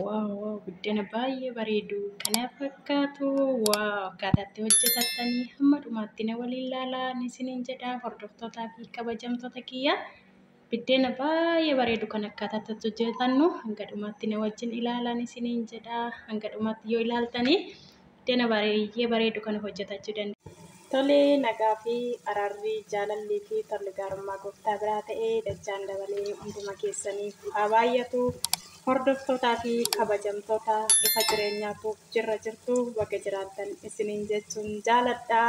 Waaw waaw biddena baay'ee bareedu kana fakkaatu waaw akkaataa itti hojjetattanii hamma dhumaatti na waliin laalaa ni isiniin jedha hordoftootaa fi kabajamtoota kiyya biddena baay'ee bareedu kan akkaataa itti hojjetannu hanga dhumaatti na wajjin ilaalaa ni isiniin jedha hanga dhumaatti yoo ilaaltanii dana bareeyyee bareedu kana hojjetachuu dandeenya. Tolee nagaa fi araarri jaalallii fi tolli gaarummaa gooftaa biraa ta'ee dachaan dabalee hunduma keessaniif haa baay'atu hordoftootaa fi kabajamtoota ifa jireenyaatu jirra jirtu baga jiraattan isiniin jechuun jaaladha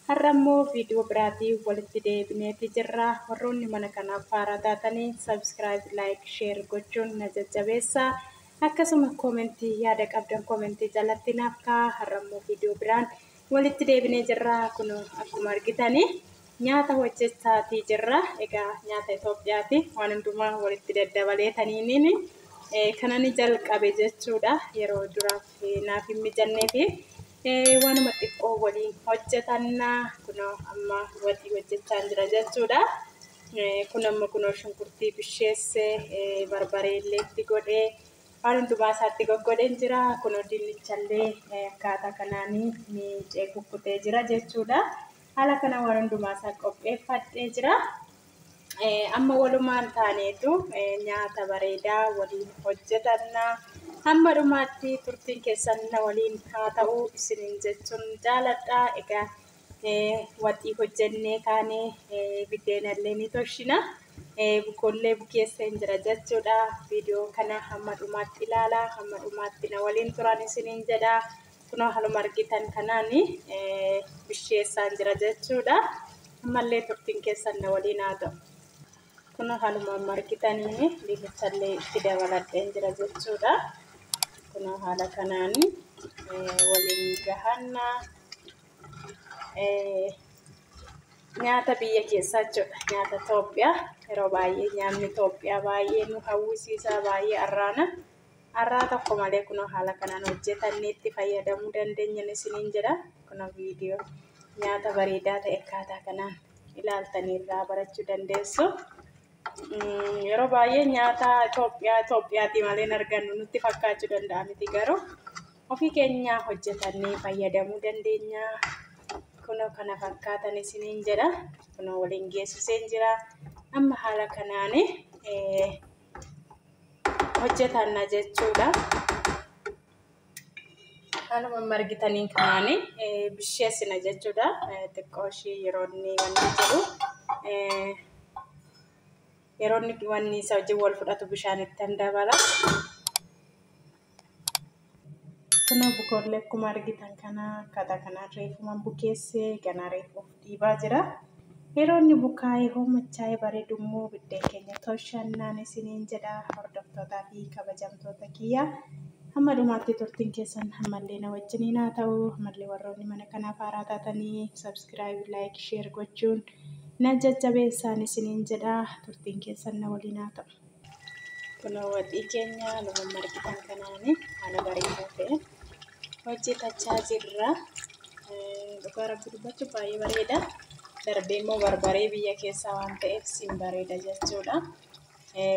har'a immoo viidiyoo biraatii walitti deebineeti jirra warroonni mana kanaaf haaraa taatanii sabskiraayib laayik sheer gochuun na jajjabeessa Akkasuma comment yaada qabdan comment jalatti naaf ka'aa har'a immoo video biraan walitti deebinee jirra kunoo akkuma argitani nyaata hojjechaatii jirra egaa nyaata Itoophiyaati waan hundumaa walitti daddabalee taniiniin kanani jalqabe jechuudha yeroo duraaf naaf hin mijanneefi waanuma xiqqoo waliin hojjetanna kunoo amma waxii hojjechaan jira jechuudha. Kun amma kunoo shunkurtii bisheesse barbaree illee itti godhee waan hundumaa isaatti goggodheen jira. Kunoo dinnichallee akkaataa kanaan miicee kukkutee jira jechuudha. Haala kana waan hundumaa isaa qopheeffadhee jira. Amma walumaan taaneetu nyaata bareedaa waliin hojjetanna. Hamma dhumaatti turtiin keessan na waliin haa ta'u isiniin jechuun jaaladha. Egaa waxii hojjennee kaanee biddeenallee ni tolchina. Bukoollee bukeessa hin jira jechuudha. Viidiyoo kana hamma dhumaatti ilaala. Hamma dhumaatti na waliin turan isiniin jedha. Kunoo haluma argitan kanaan bisheessaa hin jira jechuudha. Ammallee turtiin keessan na waliin haa ta'u. Kunoo haluma amma argitan dinnichallee itti dabaladhee hin jira jechuudha. Kunoo haala kanaan waliin gahanna. nyaata biyya keessaa jechuudha. Nyaata Itoophiyaa yeroo baay'ee nyaanni Itoophiyaa baay'ee nu hawwisiisa baay'ee arraana. Arraa tokko malee kunoo haala kanaan hojjetannee itti fayyadamuu dandeenya isiniin jedha. Kunoo viidiyoo nyaata bareedaa ta'e akkaataa kanaan ilaaltanii irraa barachuu dandeessu. Yeroo baay'ee nyaata Itoophiyaa Itoophiyaatii malee hin argannu nutti fakkaachuu danda'a miti garuu. Ofii keenyaa hojjetannee fayyadamuu dandeenya. Kunoo kana fakkaatan isiniin jedha. Kunoo waliin geessiseen jira. Amma haala kanaan hojjetanna jechuudha. Haaluma amma argitaniin kanaan bisheessina jechuudha. Xiqqoo ishii yeroo inni wanni jedhu yeroo inni wanni isa wajjin wal fudhatu bishaan ittan dabala. Kuna bukoollee akkuma argitan kana akkaataa kanaan reefuman bukeesse ganaa reefuuf dhiibaa jira. Yeroo inni bukaa'ee hoomachaa'ee bareedu immoo biddeen keenya tolchannaan isiniin jedha hordoftootaa fi kabajamtoota kiyya. Hamma dhumaatti turtiin keessan ammallee na wajjiniin haa ta'u. Ammallee warroonni mana kanaaf haaraa taatanii subscribe, like, share gochuun na jajjabeessaan isiniin jedha turtiin keessan na waliin haa ta'u. Kunoo waxii keenya luma margitan kanaani haala bareedaa ta'e hojjetachaa jirra. Dhugaa rabbi dubbachuu baay'ee bareeda. Darbee immoo barbaree biyya keessaa waan ta'eef siin bareeda jechuudha.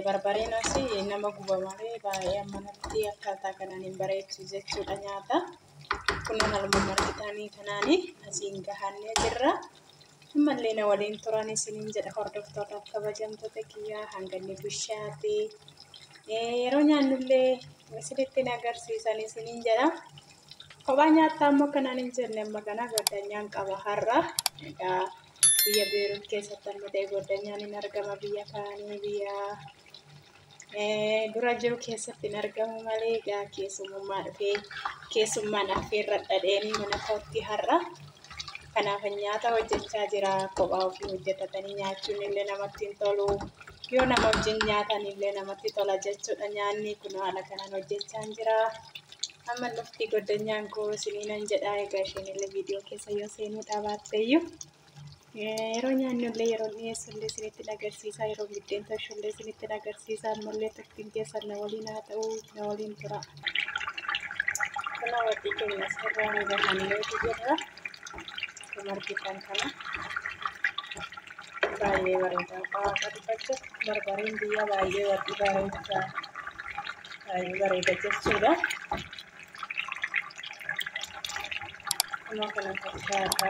Barbareen asii nama guba malee baay'ee ammanatti akkaataa kanaan hin bareechu jechuudha nyaata. Kunoo haaluma margitaanii kanaani asiin gahannee jirra. Ammallee na waliin turan isiniin jedha hordoftoota kabajamtoota kiyyaa hanganni bishaate yeroo nyaannullee isinitti na agarsiisan isiniin jedha. Kophaa nyaattaa ammoo kanaan hin jenne amma kana goddanyaan qaba har'a. Egaa biyya Beerut keessatti amma ta'e goddanyaan hin argama biyya kaanii biyya dura jiru keessatti hin argamu malee egaa keessummaa dhufee keessummaan affeerra dhadheenii mana kootti har'a. Kanaaf nyaata hojjechaa jira kophaa ofii hojjetatanii nyaachuun illee namatti hin tolu. Yoo nama wajjin nyaatan illee namatti tola jechuudha nyaanni kun haala kanaan hojjechaa jira. Amma dhufti goddanyaan koo isiniinan jedha egaa isheen illee viidiyoo keessa yoo seenuu dhaabaatte iyyuu. Yeroo nyaannu illee yeroo dhiyeessu illee isinitti agarsiisaa yeroo biddeen toshu illee isinitti agarsiisaa ammallee turtiin keessan na waliin haa ta'u na waliin tura. Kana wajji keenya sirraa ni bahannee jirra. Akkuma argitan kana baay'ee bareeda. Waaqa dubbachuuf barbareen biyya baay'ee wajji bareeda baay'ee bareeda jechuudha. Kunoo kana fakkaata.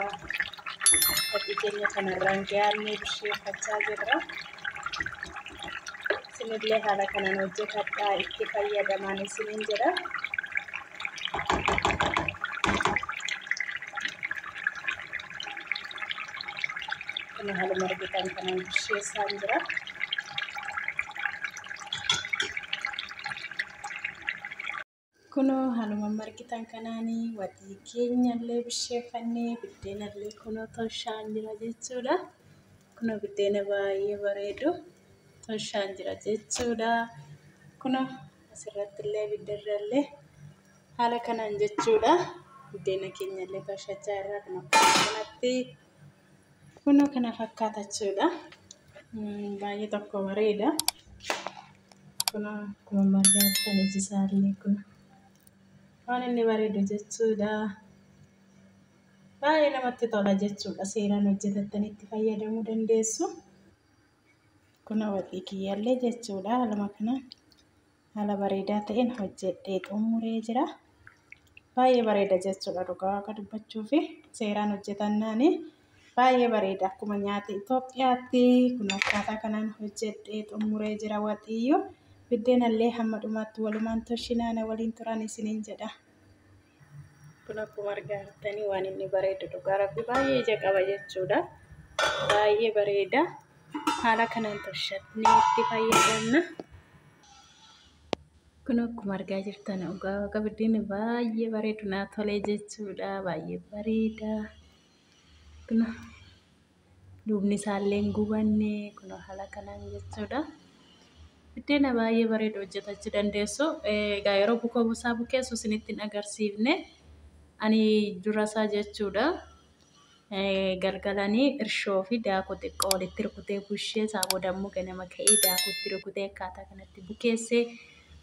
Fakkii keenya kanarraan gahaannee bisheeffachaa jirra. Isinillee haala kanaan hojjetadhaa itti fayyadamaan isiniin jedha. Kun haaluma argitan kanaan bisheessaan jira. Kunoo haluma margitan kanaani watii keenyallee bisheeffannee biddeenallee kunoo toshaan jira jechuudha. Kunoo biddeena baay'ee bareedu toshaan jira jechuudha. Kunoo asirrattillee abiddarrallee haala kanaan jechuudha. Biddeena keenyallee toshachaa irraa kunoo kanatti. Kunoo kana fakkaata jechuudha. Mm, Baay'ee tokko bareeda. Kunoo akkuma margaattan iji isaallee kun waan inni bareedu jechuudha. Baay'ee namatti tola jechuudha. Seeraan hojjetattanii itti fayyadamuu dandeessu. Kunoo waxii kiyyaallee jechuudha haaluma kanaan. Haala bareedaa ta'een hojjedhee xumuree jira. Baay'ee bareeda jechuudha dhugaa waaqa dubbachuu fi seeraan hojjetannaani baay'ee bareeda akkuma nyaata Itoophiyaatti kun akkaataa kanaan hojjedhee xumuree jira waxiyyuu biddeenallee hamma dhumaatti walumaan toshinaana waliin turan isiniin jedha. kun akkuma argaa jirtanii waan inni bareedu dhugaa rabbi baay'ee ija qaba jechuudha baay'ee bareeda haala kanaan tolchatnee itti fayyadamna kun akkuma argaa jirtan dhugaa waqa biddeen baay'ee bareedu naa tolee jechuudha baay'ee bareeda kun duubni isaallee hin gubanne kun haala kanaan jechuudha. Biddeena baay'ee bareedu hojjetachuu dandeessu. Egaa yeroo bukoo busaa bukeessu isinitti hin agarsiifne ani durasaa jechuudha. Galgalanii irshoo fi daakuu xiqqoo walitti rukutee bushee isaa booda immoo ganama ka'ee daakuutti rukutee akkaataa kanatti bukeessee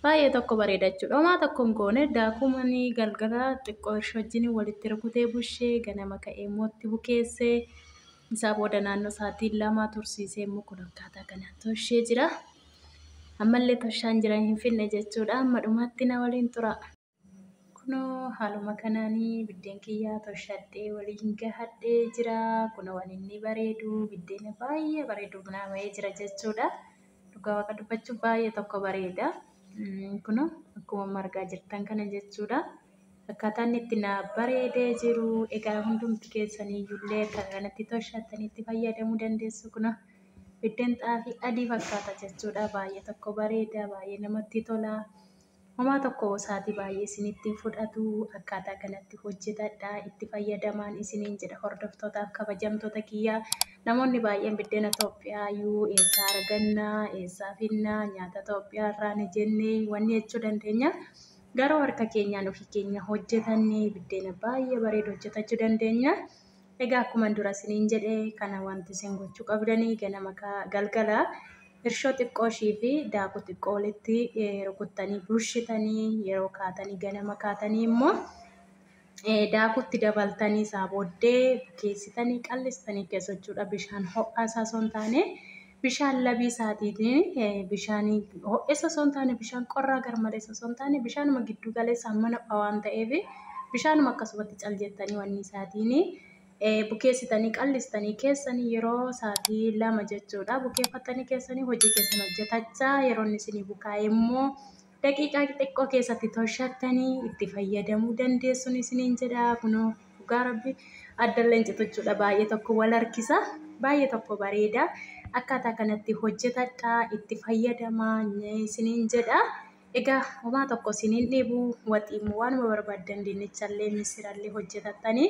Baay'ee tokko bareeda jechuudha. Homaa tokko hin goone daakuu manii galgala xiqqoo hirshoo wajjin walitti rukutee bushee ganama ka'ee immoo itti bukeessee isaa booda naannoo sa'aatii lama tursiisee immoo kun akkaataa kanaan toshee jira. Ammallee toshaan jira hin finne jechuudha. Amma dhumaatti na waliin turaa. Kunoo haaluma kanaan biddeen kiyyaa toshadhee waliin gahadhee jira. Kunoo waan inni bareedu biddeena baay'ee bareedu bunaa bahee jira jechuudha. Dhugaa waaqa dubbachuu baay'ee tokko bareeda. Kunoo akkuma argaa jirtan kana jechuudha. Akkaataan itti naa bareedee jiru egaa hundumti keessanii illee akka kanatti toshattanitti fayyadamuu dandeessu. Kunoo biddeen xaafii adii fakkaata jechuudha. Baay'ee tokko bareeda baay'ee namatti tola. Homaa tokko saati baay'ee isinitti hin fudhatu akkaataa kanatti hojjetadhaa itti fayyadamaan isiniin jedha hordoftootaaf kabajamtoota kiyya namoonni baay'een biddena Itoophiyaa yuu eessaa arganna eessaa finna nyaata Itoophiyaa irraa ni jenne wanni jechuu dandeenya garuu harka keenyaan ofii keenya hojjetannee biddena baay'ee bareedu hojjetachuu dandeenya. Egaa akkuman dura isiniin jedhe kana wanti isin gochuu qabdanii ganama galgala hirshoo xiqqoo ishii fi daakuu xiqqoo walitti rukuttanii bulshitanii yeroo kaatanii ganama kaatanii immoo daakuutti dabaltanii isaa booddee bukeessitanii qallistanii keessochuudha bishaan ho'aa isaa osoo hin taane Bishaan labii isaatiitiin bishaan ho'essa osoo hin taane bishaan qorraa garmaleessa osoo hin taane bishaanuma gidduu galeessa amma nopha waan ta'eef bishaanuma akkasumatti cal jettanii wanni isaatiin bukeessitanii qallistanii keessanii yeroo isaatii lama jechuudha bukeeffattanii keessanii hojii keessan hojjetachaa yeroo inni isinii bukaa'e immoo Daqiiqaa xiqqoo keessatti tolchattanii itti fayyadamuu dandeessuun isiniin jedha kunoo dhugaa rabbi addalleen cituchuudha baay'ee tokko wal harkisa baay'ee tokko bareeda akkaataa kanatti hojjetadhaa itti fayyadamaa isiniin jedha egaa homaa tokko isiniin dhibu waxiimmoo waanuma barbaaddan dinnichallee misirallee hojjetattanii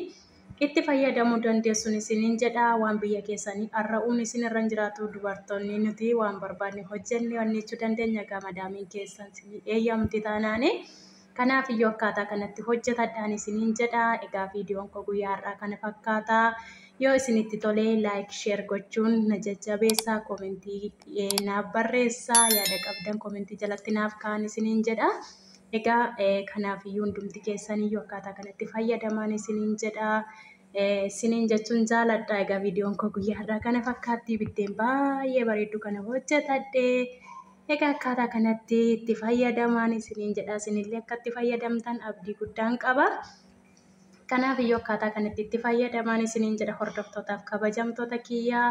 Itti fayyadamuu dandeessun isiniin jedha waan biyya keessani arra'uun isin irra hin jiraatu dubartoonni nuti waan barbaadne hojjenne onneechuu dandeenya egaa madaamiin keessan isinii eeyyamti taanaani kanaaf iyyuu akkaataa kanatti hojjetadhaan isiniin jedha egaa viidiyoon koo guyyaa har'aa kana fakkaata yoo isinitti tolee laayik sheer gochuun na jajjabeessaa koomentii naaf barreessaa yaada qabdan koomentii jalatti naaf kaan isiniin jedha. Egaa kanaafiyyuu hundumti keessaniyyuu akkaataa kanatti fayyadamaan isiniin jedha. Isiniin jechuun jaaladha. Egaa viidiyoon koo guyyaa har'aa kana fakkaatti biddeen baay'ee bareeddu kana hojjetadhe. Egaa akkaataa kanatti itti fayyadamaan isiniin jedha. Isinillee akka itti fayyadamtan abdii guddaan qaba. Kanaafiyyuu akkaataa kanatti itti fayyadamaan isiniin jedha hordoftootaaf kabajamtoota kiyyaa.